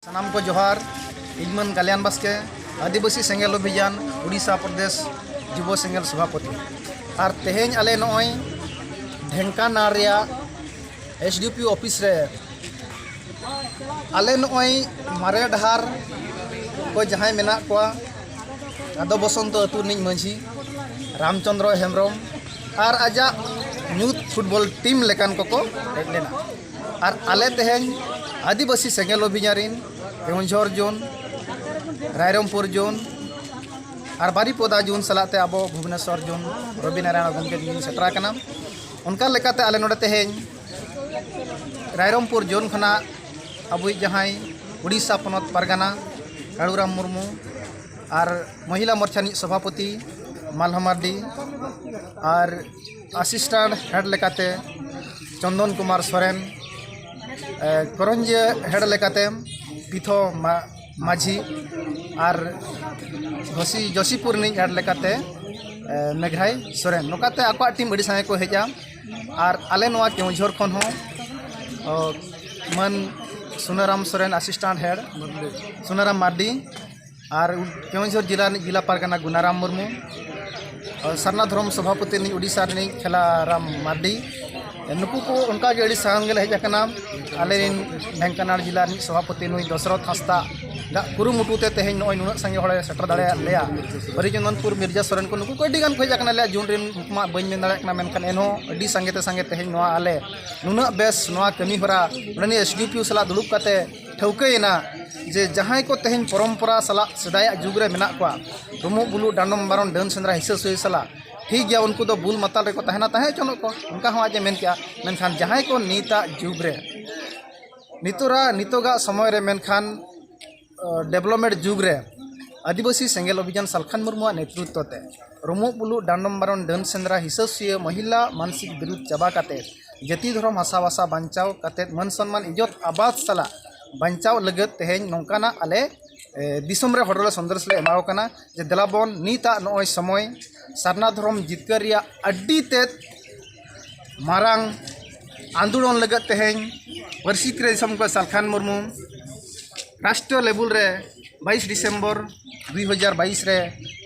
ᱥᱟᱱᱟᱢ ᱠᱚ ᱡᱚᱦᱟᱨ ᱤᱧᱢᱟᱹᱱ ᱠᱟᱞᱭᱟᱱ ᱵᱟᱥᱠᱮ ᱟᱹᱫᱤᱵᱟᱹᱥᱤ ᱥᱮᱸᱜᱮᱞ ᱚᱵᱷᱤᱡᱟᱱ ᱩᱲᱤᱥᱥᱟ ᱯᱨᱚᱫᱮᱥ ᱡᱩᱵᱚ ᱥᱮᱸᱜᱮᱞ ᱥᱚᱵᱷᱟᱯᱚᱛᱤ ᱟᱨ ᱛᱮᱦᱮᱧ ᱟᱞᱮ ᱱᱚᱜᱼᱚᱭ ᱰᱷᱮᱝᱠᱟᱱᱟᱲ ᱨᱮᱭᱟᱜ ᱮᱥ ᱰᱤ ᱯᱤ ᱚᱯᱷᱤᱥ ᱨᱮ ᱟᱞᱮ ᱱᱚᱜᱼᱚᱭ ᱢᱟᱨᱮ ᱰᱟᱦᱟᱨ ᱠᱚ ᱡᱟᱦᱟᱸᱭ ᱢᱮᱱᱟᱜ ᱠᱚᱣᱟ ᱟᱫᱚ ᱵᱚᱥᱚᱱᱛᱚ ᱟᱹᱛᱩ ᱨᱤᱱᱤᱡ ᱢᱟᱹᱡᱷᱤ ᱨᱟᱢᱪᱚᱱᱫᱨᱚ ᱦᱮᱢᱵᱨᱚᱢ ᱟᱨ ᱟᱡᱟᱜ ᱧᱩᱛ ᱯᱷᱩᱴᱵᱚᱞ ᱴᱤᱢ ᱞᱮᱠᱟᱱ ᱠᱚᱠᱚ ᱦᱮᱡ ᱞᱮᱱᱟ ᱟᱨ ᱟᱞᱮ ᱛᱮᱦᱮᱧ ᱟᱹᱫᱤᱵᱟᱹᱥᱤ ᱥᱮᱸᱜᱮᱞ ᱚᱵᱷᱤᱡᱟᱱ ᱨᱤᱱ ᱠᱮᱣᱚᱱᱡᱷᱚᱨ ᱡᱳᱱ ᱨᱟᱭᱨᱚᱢᱯᱩᱨ ᱡᱳᱱ ᱟᱨ ᱵᱟᱨᱤᱯᱚᱫᱟ ᱡᱳᱱ ᱥᱟᱞᱟᱜ ᱛᱮ ᱟᱵᱚ ᱵᱷᱩᱵᱽᱱᱮᱥᱚᱨ ᱡᱳᱱ ᱨᱚᱵᱤ ᱱᱟᱨᱟᱭᱚᱱ ᱜᱚᱢᱠᱮ ᱛᱤᱧ ᱥᱮᱴᱮᱨ ᱟᱠᱟᱱᱟ ᱚᱱᱠᱟ ᱞᱮᱠᱟᱛᱮ ᱟᱞᱮ ᱱᱚᱰᱮ ᱛᱮᱦᱮᱧ ᱨᱟᱭᱨᱚᱢᱯᱩᱨ ᱡᱳᱱ ᱠᱷᱚᱱᱟᱜ ᱟᱵᱚᱭᱤᱡ ᱡᱟᱦᱟᱸᱭ ᱩᱲᱤᱥᱥᱟ ᱯᱚᱱᱚᱛ ᱯᱟᱨᱜᱟᱱᱟ ᱠᱟᱲᱩᱨᱟᱢ ᱢᱩᱨᱢᱩ ᱟᱨ ᱢᱚᱦᱤᱞᱟ ᱢᱳᱨᱪᱟ ᱨᱤᱱᱤᱡ ᱥᱚᱵᱷᱟᱯᱚᱛᱤ ᱢᱟᱞᱦᱟ ᱢᱟᱨᱰᱤ ᱟᱨ ᱟᱥᱤᱥᱴᱟᱱᱴ ᱦᱮᱰ ᱞᱮᱠᱟᱛᱮ ᱪᱚᱱᱫᱚᱱ ᱠᱩᱢᱟᱨ ᱥᱚᱨᱮᱱ ᱠᱚᱨᱚᱧᱡᱤᱭᱟᱹ ᱦᱮᱰ ᱞᱮᱠᱟᱛᱮ ᱯᱤᱛᱷᱚ ᱢᱟᱹᱡᱷᱤ ᱟᱨ ᱜᱷᱚᱥᱤ ᱡᱚᱥᱤᱯᱩᱨ ᱨᱤᱱᱤᱡ ᱦᱮᱰ ᱞᱮᱠᱟᱛᱮ ᱢᱮᱜᱷᱟᱭ ᱥᱚᱨᱮᱱ ᱱᱚᱝᱠᱟᱛᱮ ᱟᱠᱚᱣᱟᱜ ᱴᱤᱢ ᱟᱹᱰᱤ ᱥᱟᱸᱜᱮ ᱠᱚ ᱦᱮᱡᱼᱟ ᱟᱨ ᱟᱞᱮ ᱱᱚᱣᱟ ᱠᱮᱣᱡᱷᱚᱨ ᱠᱷᱚᱱ ᱦᱚᱸ ᱢᱟᱹᱱ ᱥᱩᱱᱟᱹᱨᱟᱢ ᱥᱚᱨᱮᱱ ᱟᱥᱤᱥᱴᱟᱱᱴ ᱦᱮᱰ ᱥᱩᱱᱟᱹᱨᱟᱢ ᱢᱟᱨᱰᱤ ᱟᱨ ᱠᱮᱣᱚᱱᱡᱷᱚᱨ ᱡᱮᱞᱟ ᱨᱤᱱᱤᱡ ᱡᱮᱞᱟ ᱯᱟᱨᱜᱟᱱᱟ ᱜᱩᱱᱟᱨᱟᱢ ᱢᱩᱨᱢᱩ ᱥᱟᱨᱱᱟ ᱫᱷᱚᱨᱚᱢ ᱥᱚᱵᱷᱟᱯᱚᱛᱤ ᱨᱤᱱᱤᱡ ᱳᱰᱤᱥᱟ ᱨᱤᱱᱤᱡ ᱠᱷᱮᱞᱟᱨᱟᱢ ᱢᱟᱨᱰᱤ ᱱᱩᱠᱩ ᱠᱚ ᱚᱱᱠᱟ ᱜᱮ ᱟᱹᱰᱤ ᱥᱟᱝ ᱜᱮᱞᱮ ᱦᱮᱡ ᱟᱠᱟᱱᱟ ᱟᱞᱮ ᱨᱮᱱ ᱰᱷᱮᱝᱠᱟᱱᱟᱲ ᱡᱮᱞᱟ ᱨᱤᱱᱤᱡ ᱥᱚᱵᱷᱟᱯᱚᱛᱤ ᱱᱩᱭ ᱫᱚᱥᱚᱨᱚᱛᱷ ᱦᱟᱸᱥᱫᱟ ᱟᱜ ᱠᱩᱨᱩᱢᱩᱴᱩ ᱛᱮ ᱛᱮᱦᱮᱧ ᱱᱚᱜᱼᱚᱭ ᱱᱩᱱᱟᱹᱜ ᱥᱟᱸᱜᱮ ᱦᱚᱲᱮ ᱥᱮᱴᱮᱨ ᱫᱟᱲᱮᱭᱟᱫ ᱞᱮᱭᱟ ᱦᱚᱨᱤᱪᱚᱱᱫᱚᱱᱯᱩᱨ ᱢᱤᱨᱡᱟ ᱥᱚᱨᱮᱱ ᱠᱚ ᱱᱩᱠᱩ ᱠᱚ ᱟᱹᱰᱤ ᱜᱟᱱ ᱠᱚ ᱦᱮᱡ ᱟᱠᱟᱱᱟ ᱟᱞᱮᱭᱟᱜ ᱡᱩᱱ ᱨᱮᱱ ᱩᱱᱠᱩ ᱢᱟ ᱵᱟᱹᱧ ᱢᱮᱱ ᱫᱟᱲᱮᱭᱟᱜ ᱠᱟᱱᱟ ᱢᱮᱱᱠᱷᱟᱱ ᱮᱱᱦᱚᱸ ᱟᱹᱰᱤ ᱥᱟᱸᱜᱮ ᱛᱮ ᱥᱟᱸᱜᱮ ᱛᱮᱦᱮᱧ ᱱᱚᱣᱟ ᱟᱞᱮ ᱱᱩᱱᱟᱹᱜ ᱵᱮᱥ ᱱᱚᱣᱟ ᱠᱟᱹᱢᱤ ᱦᱚᱨᱟ ᱱᱚᱰᱮᱱᱤᱡ ᱮᱥ ᱰᱤ ᱯᱤ ᱳ ᱥᱟᱞᱟᱜ ᱫᱩᱲᱩᱵ ᱠᱟᱛᱮᱫ ᱴᱷᱟᱹᱣᱠᱟᱹᱭᱮᱱᱟ ᱡᱮ ᱡᱟᱦᱟᱸᱭ ᱠᱚ ᱛᱮᱦᱮᱧ ᱯᱚᱨᱚᱢᱯᱚᱨᱟ ᱥᱟᱞᱟᱜ ᱥᱮᱫᱟᱭᱟᱜ ᱡᱩᱜᱽ ᱨᱮ ᱢᱮᱱᱟᱜ ᱠᱚᱣᱟ ᱰᱩᱢᱵᱩᱜ ᱵᱩᱞᱩᱜ ᱰᱟᱸᱰᱚᱢ ᱵᱟᱨᱚᱱ ᱰᱟᱹᱱ ᱥᱮᱸᱫᱽᱨᱟ ᱦᱤᱥᱟᱹ ᱥᱩᱭᱟᱹ ᱥᱟᱞᱟᱜ ᱴᱷᱤᱠ ᱜᱮᱭᱟ ᱩᱱᱠᱩ ᱫᱚ ᱵᱩᱞ ᱢᱟᱛᱟᱞ ᱨᱮᱠᱚ ᱛᱟᱦᱮᱱᱟ ᱛᱟᱦᱮᱸ ᱦᱚᱪᱚᱱᱚᱜ ᱠᱚ ᱚᱱᱠᱟ ᱦᱚᱸ ᱟᱡ ᱮ ᱢᱮᱱ ᱠᱮᱜᱼᱟ ᱢᱮᱱᱠᱷᱟᱱ ᱡᱟᱦᱟᱸᱭ ᱠᱚ ᱱᱤᱛᱟᱜ ᱡᱩᱜᱽ ᱨᱮ ᱱᱤᱛᱚᱨᱟᱜ ᱱᱤᱛᱚᱜᱟᱜ ᱥᱚᱢᱚᱭ ᱨᱮ ᱢᱮᱱᱠᱷᱟᱱ ᱰᱮᱵᱷᱞᱚᱯᱢᱮᱱᱴ ᱡᱩᱜᱽ ᱨᱮ ᱟᱹᱫᱤᱵᱟᱹᱥᱤ ᱥᱮᱸᱜᱮᱞ ᱚᱵᱷᱤᱡᱟᱱ ᱥᱟᱞᱠᱷᱟᱱ ᱢᱩᱨᱢᱩᱣᱟᱜ ᱱᱮᱛᱨᱤᱛᱛᱚ ᱛᱮ ᱨᱩᱢᱩᱜ ᱵᱩᱞᱩᱜ ᱰᱟᱸᱰᱚᱢ ᱵᱟᱨᱚᱱ ᱰᱟᱹᱱ ᱥᱮᱸᱫᱽᱨᱟ ᱦᱤᱥᱟᱹ ᱥᱩᱭᱟᱹ ᱢᱟᱹᱦᱤᱞᱟ ᱢᱟᱱᱥᱤᱠ ᱵᱤᱨᱩᱫᱽ ᱪᱟᱵᱟ ᱠᱟᱛᱮ ᱡᱟᱹᱛᱤ ᱫᱷᱚᱨᱚᱢ ᱦᱟᱥᱟ ᱵᱷᱟᱥᱟ ᱵᱟᱧᱪᱟᱣ ᱠᱟᱛᱮ ᱢᱟᱹᱱ ᱥᱚᱱᱢᱟᱱ ᱤᱡᱽᱡᱚᱛ ᱟᱵᱟᱫᱽ ᱥᱟᱞᱟᱜ ᱵᱟᱧᱪᱟᱣ ᱞᱟᱹᱜᱤᱫ ᱛᱮᱦᱮᱧ ᱱᱚᱝᱠᱟᱱᱟᱜ ᱟᱞᱮ ᱫᱤᱥᱚᱢ ᱨᱮ ᱦᱚᱲ ᱞᱮ ᱥᱚᱱᱫᱮᱥ ᱞᱮ ᱮᱢᱟᱣ ᱠᱚ ᱠᱟᱱᱟ ᱡᱮ ᱫᱮᱞᱟ ᱵᱚᱱ ᱱᱤᱛᱟᱜ ᱱᱚᱜᱼᱚᱭ ᱥᱚᱢᱚᱭ ᱥᱟᱨᱱᱟ ᱫᱷᱚᱨᱚᱢ ᱡᱤᱛᱠᱟᱹᱨ ᱨᱮᱭᱟᱜ ᱟᱹᱰᱤ ᱛᱮᱫ ᱢᱟᱨᱟᱝ ᱟᱱᱫᱳᱞᱚᱱ ᱞᱟᱹᱜᱤᱫ ᱛᱮᱦᱮᱧ ᱯᱟᱹᱨᱥᱤ ᱠᱟᱹᱨᱤ ᱥᱟᱞᱠᱷᱟᱱ ᱢᱩᱨᱢᱩ ᱨᱟᱥᱴᱨᱚ ᱞᱮᱵᱮᱞ ᱨᱮ ᱵᱟᱭᱤᱥ ᱰᱤᱥᱮᱢᱵᱚᱨ ᱫᱩᱭ ᱦᱟᱡᱟᱨ ᱵᱟᱭᱤᱥ ᱨᱮ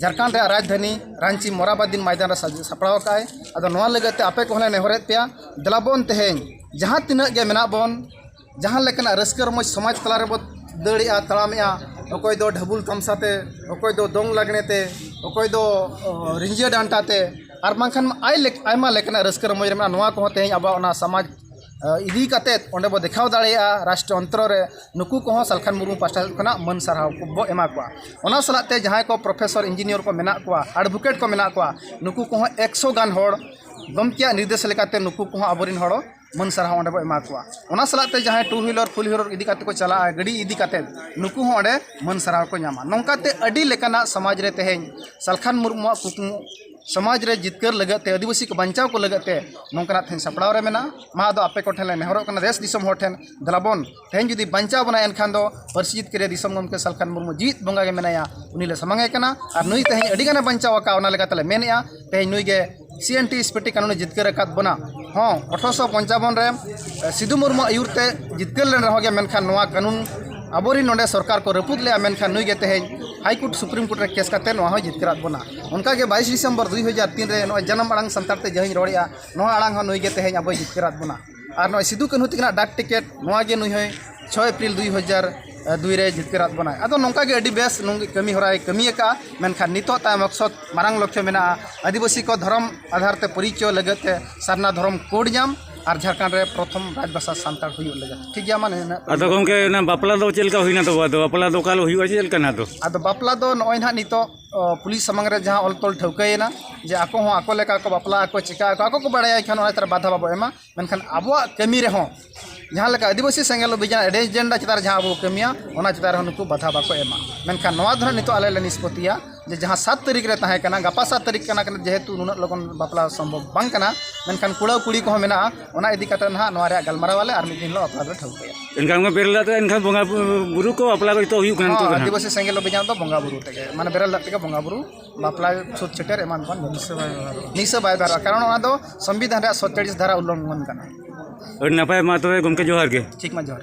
ᱡᱷᱟᱲᱠᱷᱚᱸᱰ ᱨᱮᱭᱟᱜ ᱨᱟᱡᱽᱫᱷᱟᱱᱤ ᱨᱟᱺᱪᱤ ᱢᱚᱨᱟᱵᱟᱫᱤᱱ ᱢᱚᱭᱫᱟᱱ ᱨᱮ ᱥᱟᱯᱲᱟᱣ ᱟᱠᱟᱫ ᱟᱭ ᱟᱫᱚ ᱱᱚᱣᱟ ᱞᱟᱹᱜᱤᱫ ᱛᱮ ᱟᱯᱮ ᱠᱚᱦᱚᱸ ᱞᱮ ᱱᱮᱦᱚᱨᱮᱫ ᱯᱮᱭᱟ ᱫᱮᱞᱟ ᱵᱚᱱ ᱛᱮᱦᱮᱧ ᱡᱟᱦᱟᱸ ᱛᱤᱱᱟᱹᱜ ᱜᱮ ᱢᱮᱱᱟᱜ ᱵᱚᱱ ᱡᱟᱦᱟᱸ ᱞᱮᱠᱟᱱᱟᱜ ᱨᱟᱹᱥᱠᱟᱹ ᱨᱚᱢᱚᱡᱽ ᱥᱚᱢᱟᱡᱽ ᱛᱟᱞᱟ ᱨᱮᱵᱚ ᱫᱟᱹᱲᱮᱜᱼᱟ ᱛᱟᱲᱟᱢᱮᱜᱼᱟ ᱚᱠᱚᱭ ᱫᱚ ᱰᱷᱟᱹᱵᱩᱞ ᱛᱟᱢᱥᱟ ᱛᱮ ᱚᱠᱚᱭ ᱫᱚ ᱫᱚᱝ ᱞᱟᱜᱽᱬᱮ ᱛᱮ ᱚᱠᱚᱭ ᱫᱚ ᱨᱤᱸᱡᱷᱟᱹ ᱰᱟᱱᱴᱟ ᱛᱮ ᱟᱨ ᱵᱟᱝᱠᱷᱟᱱ ᱟᱭᱢᱟ ᱞᱮᱠᱟᱱᱟᱜ ᱨᱟᱹᱥᱠᱟᱹ ᱨᱚᱢᱚᱡᱽ ᱨᱮ ᱢᱮᱱᱟᱜᱼᱟ ᱱᱚᱣᱟ ᱠᱚᱦᱚᱸ ᱛᱮᱦᱮᱧ ᱟᱵᱚᱣᱟᱜ ᱚᱱᱟ ᱥᱚᱢᱟᱡᱽ ᱤᱫᱤ ᱠᱟᱛᱮ ᱚᱸᱰᱮ ᱵᱚ ᱫᱮᱠᱷᱟᱣ ᱫᱟᱲᱮᱭᱟᱜᱼᱟ ᱨᱟᱥᱴᱨᱚ ᱚᱱᱛᱨᱚ ᱨᱮ ᱱᱩᱠᱩ ᱠᱚᱦᱚᱸ ᱥᱟᱞᱠᱷᱟᱱ ᱢᱩᱨᱢᱩ ᱯᱟᱥᱴᱟ ᱥᱮᱫ ᱠᱷᱚᱱᱟᱜ ᱢᱟᱹᱱ ᱥᱟᱨᱦᱟᱣ ᱵᱚ ᱮᱢᱟ ᱠᱚᱣᱟ ᱚᱱᱟ ᱥᱟᱞᱟᱜ ᱛᱮ ᱡᱟᱦᱟᱸᱭ ᱠᱚ ᱯᱨᱚᱯᱷᱮᱥᱚᱨ ᱤᱧᱡᱤᱱᱤᱭᱟᱨ ᱠᱚ ᱢᱮᱱᱟᱜ ᱠᱚᱣᱟ ᱮᱰᱵᱷᱚᱠᱮᱴ ᱠᱚ ᱢᱮᱱᱟᱜ ᱠᱚᱣᱟ ᱱᱩᱠᱩ ᱠᱚᱦᱚᱸ ᱮᱠᱥᱚ ᱜᱟᱱ ᱦᱚᱲ ᱜᱚᱢᱠᱮᱭᱟᱜ ᱱᱤᱨᱫᱮᱥ ᱞᱮᱠᱟᱛᱮ ᱱᱩᱠᱩ ᱠᱚᱦᱚᱸ ᱟᱵᱚ ᱨᱮᱱ ᱦᱚᱲ ᱢᱟᱹᱱ ᱥᱟᱨᱦᱟᱣ ᱚᱸᱰᱮ ᱵᱚ ᱮᱢᱟ ᱠᱚᱣᱟ ᱚᱱᱟ ᱥᱟᱞᱟᱜ ᱛᱮ ᱡᱟᱦᱟᱸᱭ ᱴᱩ ᱦᱩᱭᱞᱟᱨ ᱯᱷᱳᱨ ᱦᱩᱭᱞᱟᱨ ᱤᱫᱤ ᱠᱟᱛᱮ ᱠᱚ ᱪᱟᱞᱟᱜᱼᱟ ᱜᱟᱹᱰᱤ ᱤᱫᱤ ᱠᱟᱛᱮ ᱱᱩᱠᱩ ᱦᱚᱸ ᱚᱸᱰᱮ ᱢᱟᱹᱱ ᱥᱟᱨᱦᱟᱣ ᱠᱚ ᱧᱟᱢᱟ ᱱᱚᱝᱠᱟᱛᱮ ᱟᱹᱰᱤ ᱞᱮᱠᱟᱱᱟᱜ ᱥᱚᱢᱟᱡᱽ ᱨᱮ ᱛᱮᱦᱮᱧ ᱥᱟᱞᱠᱷᱟᱱ ᱢᱩᱨᱢᱩᱣᱟᱜ ᱠᱩᱠᱢᱩ ᱥᱚᱢᱟᱡᱽ ᱨᱮ ᱡᱤᱛᱠᱟᱹᱨ ᱞᱟᱹᱜᱤᱫ ᱛᱮ ᱟᱹᱫᱤᱵᱟᱹᱥᱤ ᱠᱚ ᱵᱟᱧᱪᱟᱣ ᱠᱚ ᱞᱟᱹᱜᱤᱫ ᱛᱮ ᱱᱚᱝᱠᱟᱱᱟᱜ ᱛᱮᱦᱮᱧ ᱥᱟᱯᱲᱟᱣ ᱨᱮ ᱢᱮᱱᱟᱜᱼᱟ ᱢᱟ ᱟᱫᱚ ᱟᱯᱮ ᱠᱚ ᱴᱷᱮᱱ ᱞᱮ ᱱᱮᱦᱚᱨᱚᱜ ᱠᱟᱱᱟ ᱫᱮᱥ ᱫᱤᱥᱚᱢ ᱦᱚᱲ ᱴᱷᱮᱱ ᱫᱮᱞᱟ ᱵᱚᱱ ᱛᱮᱦᱮᱧ ᱡᱩᱫᱤ ᱵᱟᱧᱪᱟᱣ ᱵᱚᱱᱟᱭ ᱮᱱᱠᱷᱟᱱ ᱫᱚ ᱯᱟᱹᱨᱥᱤ ᱡᱤᱛᱠᱟᱹᱨ ᱨᱮ ᱫᱤᱥᱚᱢ ᱜᱚᱢᱠᱮ ᱥᱟᱞᱠᱷᱟᱱ ᱢᱩᱨᱢᱩ ᱡᱮᱣᱮᱫ ᱵᱚᱸᱜᱟ ᱜᱮ ᱢᱮᱱᱟᱭᱟ ᱩᱱᱤ ᱞᱮ ᱥᱟᱢᱟᱝ ᱮ ᱠᱟᱱᱟ ᱟᱨ ᱱᱩᱭ ᱛᱮᱦᱮᱧ ᱟᱹᱰᱤ ᱜᱟᱱᱮ ᱵᱟᱧᱪᱟᱣ ᱟᱠᱟᱫ ᱚᱱᱟ ᱞᱮᱠᱟᱛᱮ ᱞᱮ ᱢᱮᱱᱮᱫᱼᱟ ᱛᱮᱦᱮᱧ ᱱᱩᱭ ᱜᱮ C N T S P T ᱠᱟᱹᱱᱩᱱᱮ ᱡᱤᱛᱠᱟᱹᱨ ᱟᱠᱟᱫ ᱵᱚᱱᱟ ᱦᱚᱸ ᱟᱴᱷᱨᱚᱥᱚ ᱯᱚᱧᱪᱟᱵᱚᱱ ᱨᱮ ᱥᱤᱫᱩ ᱢᱩᱨᱢᱩ ᱟᱹᱭᱩᱨ ᱛᱮ ᱡᱤᱛᱠᱟᱹᱨ ᱞᱮᱱ ᱨᱮᱦᱚᱸ ᱜᱮ ᱢᱮᱱᱠᱷᱟᱱ ᱱᱚᱣᱟ ᱠᱟᱹᱱᱩᱱ ᱟᱵᱚᱨᱮᱱ ᱱᱚᱰᱮ ᱥᱚᱨᱠᱟᱨ ᱠᱚ ᱨᱟᱹᱯᱩᱫ ᱞᱮᱫᱼᱟ ᱢᱮᱱᱠᱷᱟᱱ ᱱᱩᱭ ᱜᱮ ᱛᱮᱦᱮᱧ ᱦᱟᱭ ᱠᱳᱨᱴ ᱥᱩᱯᱨᱤᱢ ᱠᱳᱨᱴ ᱨᱮ ᱠᱮᱥ ᱠᱟᱛᱮᱫ ᱱᱚᱣᱟ ᱦᱚᱸᱭ ᱡᱤᱛᱠᱟᱹᱨᱟᱫ ᱵᱚᱱᱟ ᱚᱱᱠᱟᱜᱮ ᱵᱟᱭᱤᱥ ᱰᱤᱥᱮᱢᱵᱚᱨ ᱫᱩᱭ ᱦᱟᱡᱟᱨ ᱛᱤᱱ ᱨᱮ ᱱᱚᱜᱼᱚᱭ ᱡᱟᱱᱟᱢ ᱟᱲᱟᱝ ᱥᱟᱱᱛᱟᱲ ᱛᱮ ᱡᱟᱦᱟᱸᱧ ᱨᱚᱲᱮᱜᱼᱟ ᱱᱚᱣᱟ ᱟᱲᱟᱝ ᱦᱚᱸ ᱱᱩᱭᱜᱮ ᱛᱮᱦᱮᱧ ᱟᱵᱚᱭ ᱡᱤᱛᱠᱟᱹᱨᱟᱫ ᱵᱚᱱᱟ ᱟᱨ ᱱᱚᱜᱼᱚᱭ ᱥᱤᱫᱩ ᱠᱟᱹᱱᱦᱩ ᱛᱟᱹᱠᱤᱱᱟᱜ ᱰᱟᱠ ᱴᱤᱠᱮᱴ ᱱᱚᱣᱟᱜᱮ ᱱᱩᱭ ᱦᱚᱸᱭ ᱪᱷᱚᱭ ᱮᱯᱨᱤᱞ ᱫᱩᱭ ᱦᱟᱡᱟᱨ ᱫᱩᱭ ᱨᱮ ᱡᱤᱛᱠᱟᱹᱨᱟᱫ ᱵᱚᱱᱟᱭ ᱟᱫᱚ ᱱᱚᱝᱠᱟᱜᱮ ᱟᱹᱰᱤ ᱵᱮᱥ ᱱᱩᱝᱜᱮ ᱠᱟᱹᱢᱤ ᱦᱚᱨᱟᱭ ᱠᱟᱹᱢᱤ ᱟᱠᱟᱫᱼᱟ ᱢᱮᱱᱠᱷᱟᱱ ᱱᱤᱛᱚᱜ ᱛᱟᱭ ᱢᱚᱠᱥᱚᱫ ᱢᱟᱨᱟᱝ ᱞᱚᱠᱠᱷᱚ ᱢᱮᱱᱟᱜᱼᱟ ᱟᱹᱫᱤᱵᱟᱹᱥᱤ ᱠᱚ ᱫᱷᱚᱨᱚᱢ ᱟᱫᱷᱟᱨ ᱛᱮ ᱯᱚᱨᱤᱪᱚᱭ ᱞᱟᱹᱜᱤᱫ ᱛᱮ ᱥᱟᱨᱱᱟ ᱫᱷᱚᱨᱚᱢ ᱠᱳᱰ ᱧᱟᱢ ᱟᱨ ᱡᱷᱟᱲᱠᱷᱚᱸᱰ ᱨᱮ ᱯᱨᱚᱛᱷᱚᱢ ᱨᱟᱡᱽ ᱵᱷᱟᱥᱟ ᱥᱟᱱᱛᱟᱲ ᱦᱩᱭᱩᱜ ᱞᱟᱹᱜᱤᱫ ᱴᱷᱤᱠ ᱜᱮᱭᱟ ᱢᱟᱱᱮ ᱟᱫᱚ ᱜᱚᱢᱠᱮ ᱚᱱᱟ ᱵᱟᱯᱞᱟ ᱫᱚ ᱪᱮᱫ ᱞᱮᱠᱟ ᱦᱩᱭᱱᱟ ᱛᱚᱵᱮ ᱟᱫᱚ ᱵᱟᱯᱞᱟ ᱫᱚ ᱚᱠᱟ ᱦᱤᱞᱳᱜ ᱦᱩᱭᱩᱜᱼᱟ ᱪᱮᱫ ᱞᱮᱠᱟ ᱱᱟᱜ ᱫᱚ ᱟᱫᱚ ᱵᱟᱯᱞᱟ ᱫᱚ ᱱᱚᱜᱼᱚᱭ ᱱᱟᱜ ᱱᱤᱛᱚᱜ ᱯᱩᱞᱤᱥ ᱥᱟᱢᱟᱝ ᱨᱮ ᱡᱟᱦᱟᱸ ᱚᱞ ᱛᱚᱞ ᱴᱷᱟᱹᱣᱠᱟᱹᱭᱮᱱᱟ ᱡᱮ ᱟᱠᱚ ᱦᱚᱸ ᱟᱠᱚ ᱞᱮᱠᱟ ᱠᱚ ᱵᱟᱯᱞᱟᱜ ᱟᱠᱚ ᱪᱤᱠᱟᱹᱜ ᱟᱠᱚ ᱟᱠᱚ ᱠᱚ ᱵᱟᱲᱟᱭᱟ ᱮᱱᱠᱷᱟᱱ ᱚᱱᱟ ᱪᱮᱛᱟᱱ ᱨᱮ ᱵᱟᱫᱷᱟ ᱵᱟᱵᱚᱱ ᱮᱢᱟ ᱢᱮᱱᱠᱷᱟᱱ ᱟᱵᱚᱣᱟᱜ ᱠᱟᱹᱢᱤ ᱨᱮᱦᱚᱸ ᱡᱟᱦᱟᱸ ᱞᱮᱠᱟ ᱟᱹᱫᱤᱵᱟᱹᱥᱤ ᱥᱮᱸᱜᱮᱞ ᱚᱵᱷᱤᱡᱟᱱ ᱟᱹᱰᱤ ᱮᱡᱮᱱᱰᱟ ᱪᱮᱛᱟᱱ ᱨᱮ ᱡᱟᱦᱟᱸ ᱟᱵᱚ ᱵᱚᱱ ᱠᱟᱹᱢᱤᱭᱟ ᱚᱱᱟ ᱪᱮᱛᱟᱱ ᱨᱮᱦᱚᱸ ᱱᱩᱠᱩ ᱵᱟᱫᱷᱟ ᱵᱟᱠᱚ ᱮᱢᱟ ᱢᱮᱱᱠᱷᱟᱱ ᱱᱚᱣᱟ ᱫᱚ ᱦᱟᱸᱜ ᱱᱤᱛᱚᱜ ᱟᱞᱮ ᱞᱮ ᱱᱤᱥᱯᱟᱹᱛᱤᱭᱟ ᱡᱮ ᱡᱟᱦᱟᱸ ᱥᱟᱛ ᱛᱟᱹᱨᱤᱠᱷ ᱨᱮ ᱛᱟᱦᱮᱸ ᱠᱟᱱᱟ ᱜᱟᱯᱟ ᱥᱟᱛ ᱛᱟᱹᱨᱤᱠᱷ ᱠᱟᱱᱟ ᱡᱮᱦᱮᱛᱩ ᱱᱩᱱᱟᱹᱜ ᱞᱚᱜᱚᱱ ᱵᱟᱯᱞᱟ ᱥᱚᱢᱵᱷᱚᱵ ᱵᱟᱝ ᱠᱟᱱᱟ ᱢᱮᱱᱠᱷᱟᱱ ᱠᱚᱲᱟ ᱠᱩᱲᱤ ᱠᱚᱦᱚᱸ ᱢᱮᱱᱟᱜᱼᱟ ᱚᱱᱟ ᱤᱫᱤ ᱠᱟᱛᱮ ᱱᱟᱦᱟᱜ ᱱᱚᱣᱟ ᱨᱮᱭᱟᱜ ᱜᱟᱞᱢᱟᱨᱟᱣ ᱟᱞᱮ ᱟᱨ ᱢᱤᱫ ᱫᱤᱱ ᱦᱤᱞᱳᱜ ᱵᱟᱯᱞᱟ ᱫᱚ ᱴᱷᱟᱹᱣᱠᱟᱹᱭᱟ ᱮᱱᱠᱷᱟᱱ ᱠᱚ ᱵᱮᱨᱮᱞ ᱫᱟᱜ ᱛᱮ ᱮᱱᱠᱷᱟᱱ ᱵᱚᱸᱜᱟ ᱵᱩᱨᱩ ᱠᱚ ᱵᱟᱯᱞᱟ ᱠᱚ ᱡᱚᱛᱚ ᱦᱩᱭᱩᱜ ᱠᱟᱱᱟ ᱱᱤᱛᱚᱜ ᱫᱚ ᱦᱚᱸ ᱱᱟᱦᱟᱜ ᱟᱹᱫᱤᱵᱟᱹᱥᱤ ᱥᱮᱸᱜᱮᱞ ᱚᱵᱷᱤᱡᱟᱱ ᱫᱚ ᱵᱚᱸᱜᱟ ᱵᱩᱨᱩ ᱛᱮᱜᱮ ᱢᱟᱱᱮ ᱵᱮᱨᱮᱞ ᱫᱟᱜ ᱛᱮᱜᱮ ᱵᱚᱸᱜᱟ ᱵᱩᱨᱩ ᱵᱟᱯᱞᱟ ᱪᱷᱩᱛ ᱪᱷᱮᱴᱮᱨ ᱮᱢᱟᱱ ᱠᱚ ᱱᱤᱥᱟᱹ ᱵᱟᱭ ᱵᱮᱣᱦᱟᱨᱚᱜᱼᱟ ᱠᱟᱨᱚᱱ ᱚᱱᱟ ᱫᱚ ᱥᱚᱝᱵᱤᱫᱷᱟᱱ ᱨᱮᱭᱟᱜ ᱥᱚᱛᱛᱮᱨᱤᱥ ᱫᱷᱟᱨᱟ ᱩᱞᱞᱚᱝᱜᱷᱚᱱ ᱠᱟᱱᱟ ᱟᱹᱰᱤ ᱱᱟᱯᱟᱭ ᱢᱟ ᱛᱚᱵᱮ ᱜᱚᱢᱠᱮ ᱡᱚᱦᱟᱨ ᱜᱮ ᱴᱷᱤᱠ ᱢᱟ ᱡᱚᱦᱟᱨ